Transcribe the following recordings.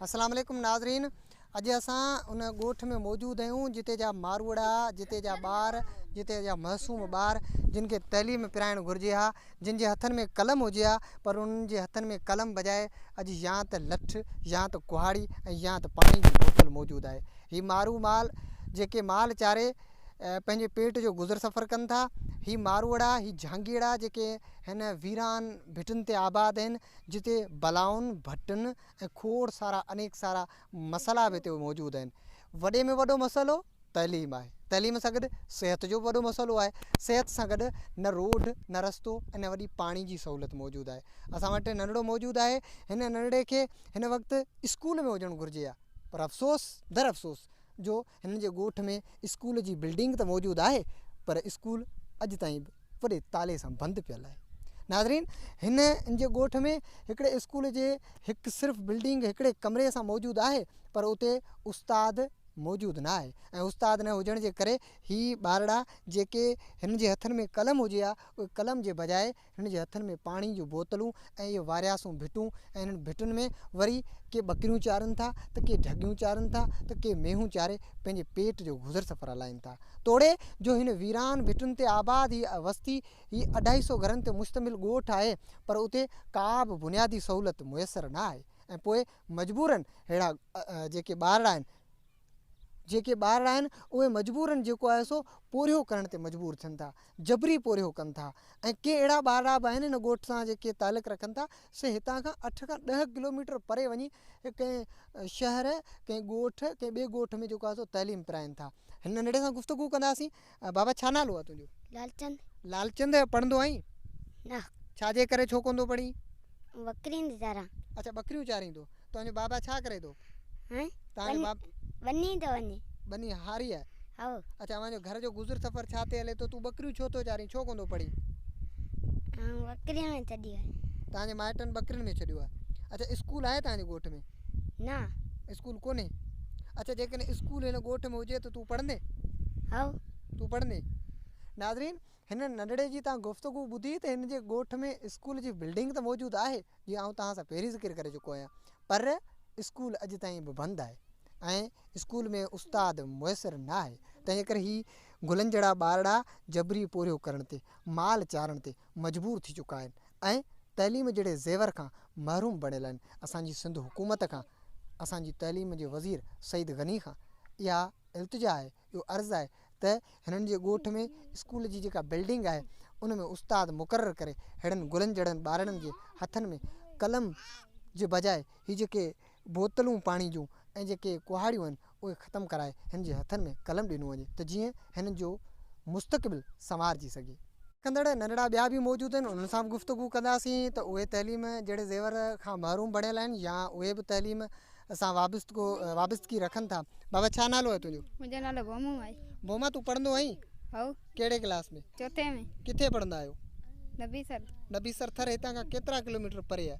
السلام عليڪم ناظرين اڄ اسان ان ڳوٺ ۾ موجود آهيون جتي جا ماروئڙا جتي جا ٻار جتي جا معصوم ٻار جن کي تعليم پرائڻ گهرجي ها جن جي هٿن ۾ قلم هجي ها پر انهن جي هٿن ۾ قلم بجاء اڄ يا ته لٺ يا ته ڪهاڙي ۽ يا ته پاڻي جي بوتل موجود آهي هي مارو مال جيڪي مال چاري پنهنجي پيٽ جو گذر سفر ڪن ٿا هي ماروئڙا هي جهانگيئڙا جيڪي هن ويران ڀٽن تي آباد آهن جتي بلائن ڀٽن ۽ کوڙ سارا انيڪ سارا مسئلا به هتي موجود آهن. وڏي ۾ وڏو مسئلو تعليم آهي. تعليم سان گڏ صحت جو به وڏو مسئلو آهي. صحت سان گڏ نه روڊ نه رستو ۽ نه وڏي پاڻي جي سهولت موجود آهي. اسان وٽ ننڍڙو موجود آهي. هن ننڍڙي کي هن وقت اسڪول ۾ هجڻ گهرجي ها پر افسوس در افسوس جو هنن جي ڳوٺ ۾ اسڪول جي بلڊنگ ته موجود آهي پر اسڪول اڄ تائين به وڏي تالي سان بند پيل آهي ناظرين هن ان جي ڳوٺ ۾ هڪڙي اسڪول جي هڪ صرف بلڊنگ هڪڙي ڪمري سان موجود آهي پر اتي استاد موجود نه آهي ۽ استاد نه هجڻ جي ڪري هي ٻارڙا جيڪي هن جي هٿن ۾ قلم هجي ها اهي قلم جي بجاء هنن جي هٿن ۾ پاڻي جون بوتلون ۽ اهي وارياسون ڀٽون ۽ هنن ڀٽن ۾ وري ڪي ٻڪريون چارن ٿا ته ڪي ڍڳيون چارن ٿا ته ڪي مينهون چاري پنهنجي پيٽ جو گذر سفر هلائين ٿا توڙي جو هن ويران ڀٽن تي آباد هي وستي هي اڍائي سئو گهرن تي مشتمل ڳوٺ آهي پر اتي ڪا به بنيادي سهولت ميسر نه آهي ۽ پوء مجبورن ههڙا جيڪي ٻارڙا آهن جيڪي ٻارڙا آهن اهي مجبورن جيڪو آهي سو پورهيو ڪرڻ تي مجبور ٿين ٿا جبري پورهيو ڪن ٿا ۽ ڪي اهڙا ٻارڙا به آهن ان ڳوٺ سان جيڪي تعلق رکن ٿا سي هتان کان اٺ کان ڏهه ڪلوميٽر پري وڃي ڪنهن شهر ڪنهن ڳوٺ ڪنهن ٻئي ڳوٺ ۾ جيڪو آهي سو تعليم پراين ٿا هن ننڍڙي سان گفتگو ڪنداسين بابا ڇا نالو آ تنهنجو. لالچند. لالچند پڙھندو آھين. نه. ڇا جي ڪري ڇو ڪوندو پڙھين. ٻڪرين ٿي چاران. اڇا ٻڪريون چاريندو. تنهنجو بابا ڇا ڪري ٿو. ھين. تنهنجو بابا. ٻني ٿو وڃي. ٻني ھاري آ. ھئو. اڇا اوهان جو گھر جو گذر سفر ڇا تي ھلي ٿو تون ٻڪريون ڇو ٿو چارين ڇو ڪوندو پڙھين. آئون ٻڪرين ۾ ڇڏيو آ. تنهنجي مائٽن ٻڪرين ۾ ڇڏيو آ. اڇا اسڪول آھي تنهنجي ڳوٺ ۾. نه اسڪول ڪونهي اچا جيڪڏهن اسڪول هن ڳوٺ ۾ هجي ته تون پڙهندي هاء تون پڙهندي ناظرين هن ننڍڙي جي تان گفتگو ٻڌي ته هن جي ڳوٺ ۾ اسڪول جي بلڊنگ ته موجود آهي جي آئون تان سان پهرين ذڪر ڪري چڪو آهيان پر اسڪول اڄ تائين به بند آهي ۽ اسڪول ۾ استاد ميسر نه آهي تنهنجي ڪري هي گلن جهڙا ٻارڙا جبري پورهيو ڪرڻ تي مال چارڻ تي مجبور ٿي چڪا آهن ۽ تعليم جهڙي زيور کان محروم بڻيل آهن اسان جي سنڌ حڪومت کان اسان جي تعليم جي وزير سعيد غني کان اها التجا آهي اهو عرض آهي ته هنن جي ڳوٺ ۾ اسڪول جي جيڪا بلڊنگ آهي ان ۾ استاد مقرر ڪري ههڙن گلن جهڙن ٻارڙن جي هٿن ۾ قلم جي بجاء هي جيڪي بوتلون پاڻي جون ۽ جيڪي ڪهاڙيون آهن اهي ختم ڪرائي هن جي هٿن ۾ قلم ڏنو وڃي ته جيئن هن جو مستقبل سنوارجي سگهي. ڪندڙ ننڍڙا ٻيا به موجود آهن انهن سان به گفتگو ڪنداسين ته اهي تعليم جهڙي زيور کان محروم بڻيل آهن يا اهي به تعليم سان وابستگو وابستگي رکن ٿا بابا ڇا نالو آهي تنهنجو. منهنجو نالو ڀومو آهي. ڀوما تون پڙهندو آهين؟ هائو. ڪهڙي ڪلاس ۾؟ چوٿين ۾. ڪٿي پڙهندا آهيو؟ نبي سر. نبي سر ٿر هتان کان ڪيترا ڪلوميٽر پري آهي؟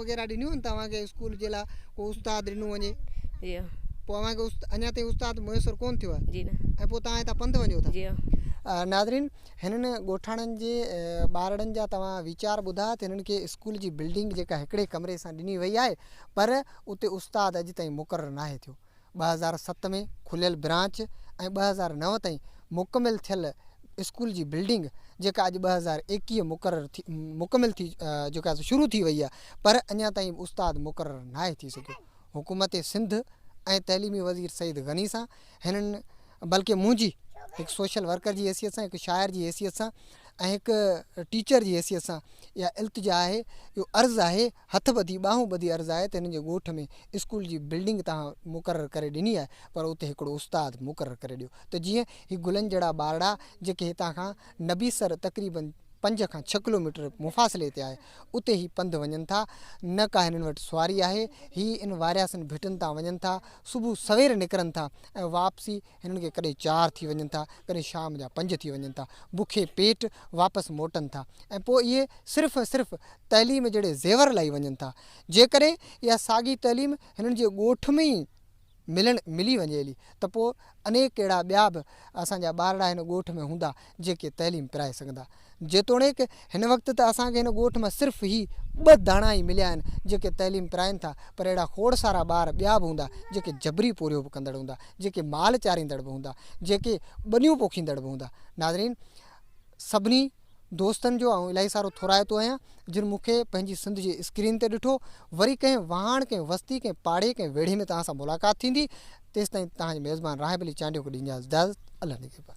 وغيره ڏنيون آهن توهان کي اسڪول جي لاء ڪو استاد ڏنو وڃي جي ها پوء اوهان کي اڃا تائين استاد ميسر ڪون ٿيو آهي جي نه ۽ پوء توهان هتان پنڌ وڃو ٿا جي ها ناظرين هنن ڳوٺاڻن جي ٻارڙن جا توهان ويچار ٻڌا ته هنن کي اسڪول جي بلڊنگ جيڪا هڪڙي ڪمري سان ڏني وئي آهي پر اتي استاد اڄ تائين مقرر ناهي ٿيو ٻه هزار ست ۾ کليل برانچ ۽ ٻه هزار نو تائين مڪمل ٿيل اسڪول جي بلڊنگ جيڪا اڄ ٻه هزار ايڪيهه مقرر ٿي مڪمل ٿي جيڪا شروع ٿي وئي آهي پر اڃا تائين استاد مقرر ناهي ٿي سگهيو حڪومت سنڌ ۽ تعليمي وزير سيد غني سان هنن بلڪه منهنجي هڪ سوشل ورڪر جي حيثيت سان هڪ شاعر جي حيثيت سان ۽ هڪ ٽيچر جي حيثيت سان اها التجا آهي اهو عرض آهي هٿ ٻڌي ٻانهون ٻڌي عرض آهي ته هنن جي ڳوٺ ۾ اسڪول جي بلڊنگ توهان مقرر ڪري ڏني آهي پر اتي هڪڙو استاد مقرر ڪري ڏيو ته جيئن هي گلن جهڙا ٻارڙا جيڪي هتان کان نبيسر تقريباً پنج کان ڇهه ڪلوميٽر مفاصلي تي آهي اتي هي پنڌ وڃن ٿا نه ڪا هنن وٽ سواري آهي هي ان وارياسن ڀٽن تان وڃن ٿا صبح سوير نڪرن ٿا ۽ واپسي هنن کي ڪڏهن چار ٿي وڃن ٿا ڪڏهن شام جا پنج ٿي وڃن ٿا بکي پيٽ واپس موٽن ٿا ۽ پوء اهي صرف ۽ صرف تعليم جهڙي زيور لائي وڃن ٿا. جيڪڏهن اها ساڳي تعليم هنن جي ڳوٺ ۾ ئي ملڻ ملي وڃي هلي ته پوء انيڪ اهڙا ٻيا به اسان جا ٻارڙا هن ڳوٺ ۾ هوندا جيڪي تعليم پرائي سگهندا. جيتوڻيڪ هن وقت ته اسان کي هن ڳوٺ مان صرف هي ٻه داڻا ئي مليا آهن جيڪي تعليم پرائين ٿا پر اهڙا کوڙ سارا ٻار ٻيا به هوندا جيڪي جبري پورهيو به ڪندڙ هوندا، جيڪي مال چاريندڙ به هوندا، جيڪي ٻنيون پوکيندڙ به هوندا. ناظرين! سڀني. دوستن جو آئون الاهي سارو ٿورائتو آهيان، جن مون کي پنهنجي سنڌ جي اسڪرين تي ڏٺو، وري ڪنهن واهڻ، ڪنهن وستي، ڪنهن پاڙي، ڪنهن ويڙهي ۾ توهان سان ملاقات ٿيندي، تيستائين توهان جي ميزبان راهب علي چانڊيو کي ڏينديانس اجازت. الله نگهبان.